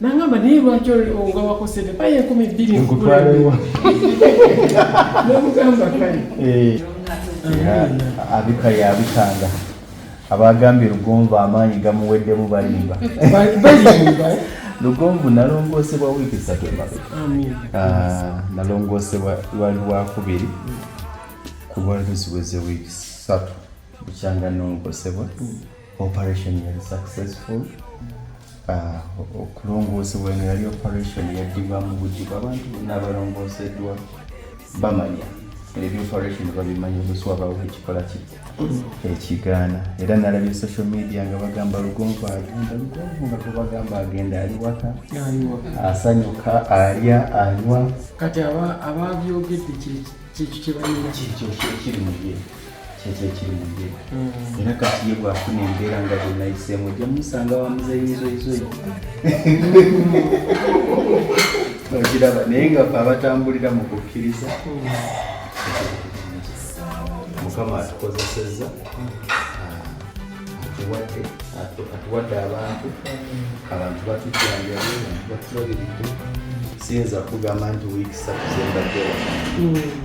nangamba naye lwaki nga wakosede paye enkumi bbiri nkutwalewa nomugamba kale eh. abika yabikanga abagambye lugonvu amaanyi gamuweddemu balimba lugonvu nalongoosebwa wiiki satu emabega ah, nalongoosebwa lwali lwakubiri kuba luziweze wiiki satu bukyanga nongosebwa mm. operation yali successful ah, okulongoosebwa eno yali operation yaddiba mu bujugu abantu bonna abalongooseddwa bamanya ebyo operation babimanya oluswabawo ekikola ki ekigaana era nalabye social media nga bagamba lugonvu agenda lugonvu nga tubagamba agenda ali waka asanyuka alya anywa kati ababyogedde kyekyo kyebanira kyekyo kyekiri muye kyekyo ekiri mu ye mm. era kati ye bwafuna embeera nga bwenayiseemu ojja musanga wamuzeyizoizoyi okiraba naye nga fe abatambulira mu kukkiriza mukama atukozesezza atuwadde atuwadde abantu abantu batujjanjabe abantu batulabiridde siyinza kugamba nti wiikisatu zembaddewa mm.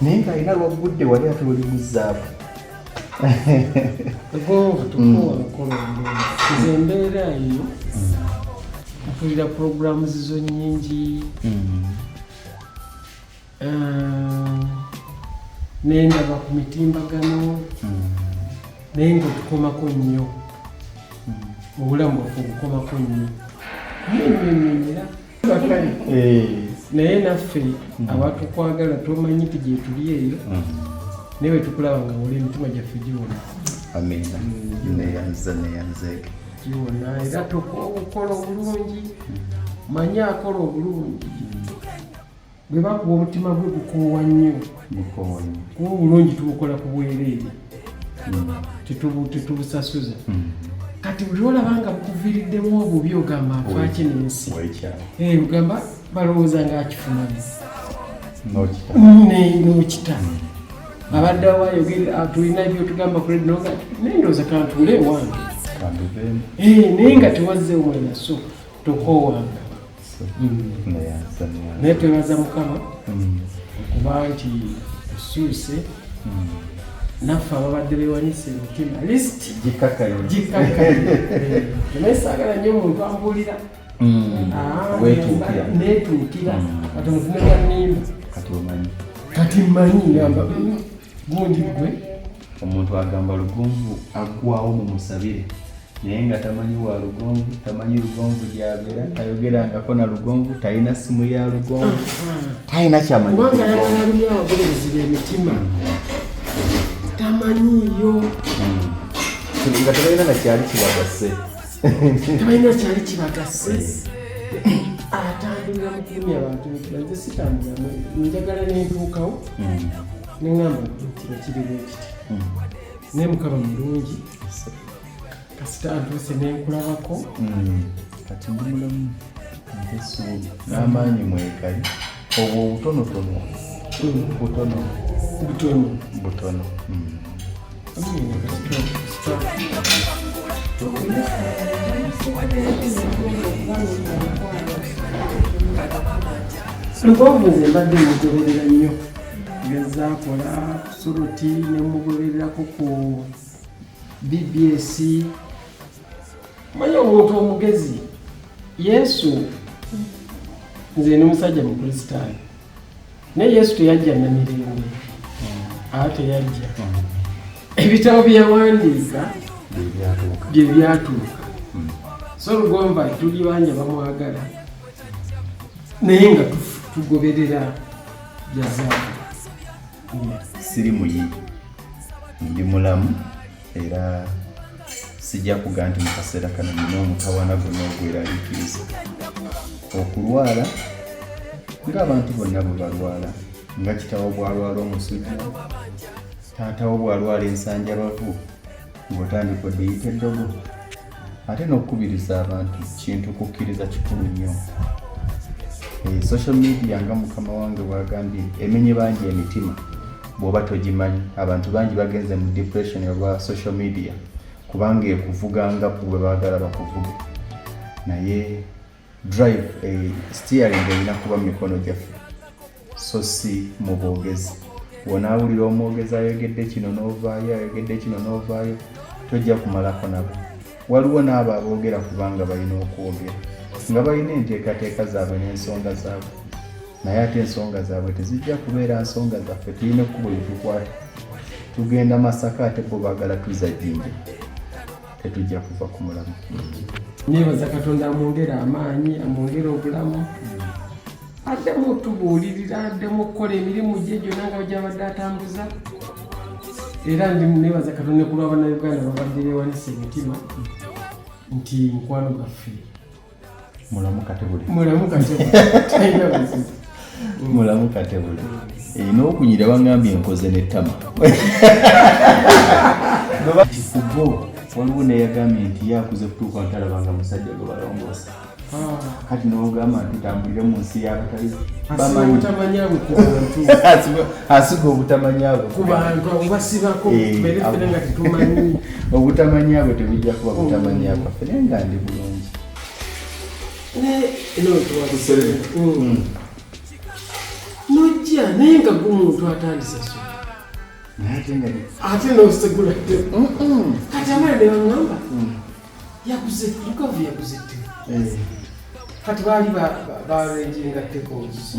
naye nga alina lwaggudde wali ate oli muzaabu egonvu tukowa lukola nze embeera eyo mpulira puroguramu zizo nyingi mm. ah, naye ndaba ku mitimbagano mm. naye nga otukomako nnyo mm. obulamu bwaffe obukomako nnyo nyo nyo nyo era eh. naye naffe hmm. abatukwagala tomanyi nti gyetuli eyo hmm. naye wetukulaba nga wula emitima gyaffe giwona hmm. giwona era tokola obulungi manyi akola obulungi bwe bakuba omutima gwe gukoowa nnyo kuba obulungi tubukola ku bwereere hmm. tetubusasuza hmm. kati buli olaba nga bukuviriddemu obubi ogamba nfaki nensi eh, ogamba balowooza nga akifumanyi nokita hmm. abadde awayogere ah, tulina byotugamba kuledi noga naye ndooza kantule ewange eh, naye nga tewazze wena so tokoowanga naye twebaza mukama okuba mm. nti osuuse mm. naffe ababadde bewanyisa emitima list gikakayo gikakayo naye saagala nnyo omuntu ambuulira mm. ah, netuukira kati omuntu newanimba kati mmanyi ngamba gundi gwe omuntu agamba lugonvu agwawo mu musabire naye nga tamanyi wa lugonvu tamanyi lugonvu gyabera tayogera ngako na lugonvu talina simu ya lugonvu talina kyamanyibulezibemitima tamanyiyo nga tebalina nakyali kibagase tebalina kyali kibagase atambulira mukulumya abantu nze sitambulamu njagala nentuukawo mm. neŋamba nti ekiriwo ekiti mm. naye mukaba mulungi kasita ntuuse nenkulabako hmm. kati ndi mulamu nte essuubi n'amaanyi mwekali obwo obutonotono hmm. butono butono butono hmm. lugonvu nze mbadde mugoberera nnyo gezaakola soroti ne mugobererako ku bbs manya omuntu omugezi yesu nze ni musajja mukristaayo naye yesu teyajja namirembe aa teyajja ebitabo byeyawandiika bye byatuuka hmm. so lugomba tuli banja bamwagala naye nga tugoberera jazaa siri muyi ndi mulamu era sijja kuga nti mu kaseera kano nina omutawana gonna ogweraliikiriza okulwala ng'abantu bonna bwe balwala nga kitawo bwalwala omusujja taatawo bwalwala ensanjabavu ng'otandika odeyita eddogo ate n'okukubiriza abantu kintu kukkiriza kikulu nnyo eh, social media nga mukama wange bwagambye emenye bangi emitima bwoba togimanyi abantu bangi bagenze mu depression olwa social media kubanga ekuvuga nga kubwe baagala bakuvuge naye drive eh, steering erina kuba mumikono gyaffe so si mu bwogezi wonaawulira omwogezi ayogedde kino n'ovaayo ayogedde kino n'ovaayo tojja kumalako nabo waliwo n'abo aboogera kubanga balina okwogera nga balina enteekateeka zaabwe n'ensonga zaabwe naye ate ensonga zaabwe tezijja kubeera nsonga zaffe tulina ekkubo lyetukwata tugenda masaka ate bo baagala tuzajjinja tetujja kuva ku mulamu nebaza katonda amwongere amaanyi amwongere obulamu addemu otubuulirira addemu okukola emirimu gye gyonna nga gyabadde atambuza era ndi nebaza katonda nekulwa banauganda babadde bewanisa emitima nti mukwano gaffe mulamu katebule mulamu katebule mulamu katebule erina eh, okunyira bangambye enkoze nettama kubo waliwo neyagambye nti yakuze kutuuka ntalaba nga musajja gwe balongoosa ah. kati nogamba nti tambulire mu nsi yabatali asiga obutamanyabwe kubantu obasibako eh, obutamanya bwe tebujja kuba butamanya bwaffe naye nga ndi bulungi nojja naye nga gumuntu atandisa ate nosegula kati amala nebaŋamba yaguze lukavu yaguze ttemu kati baali barenjinga ttekozi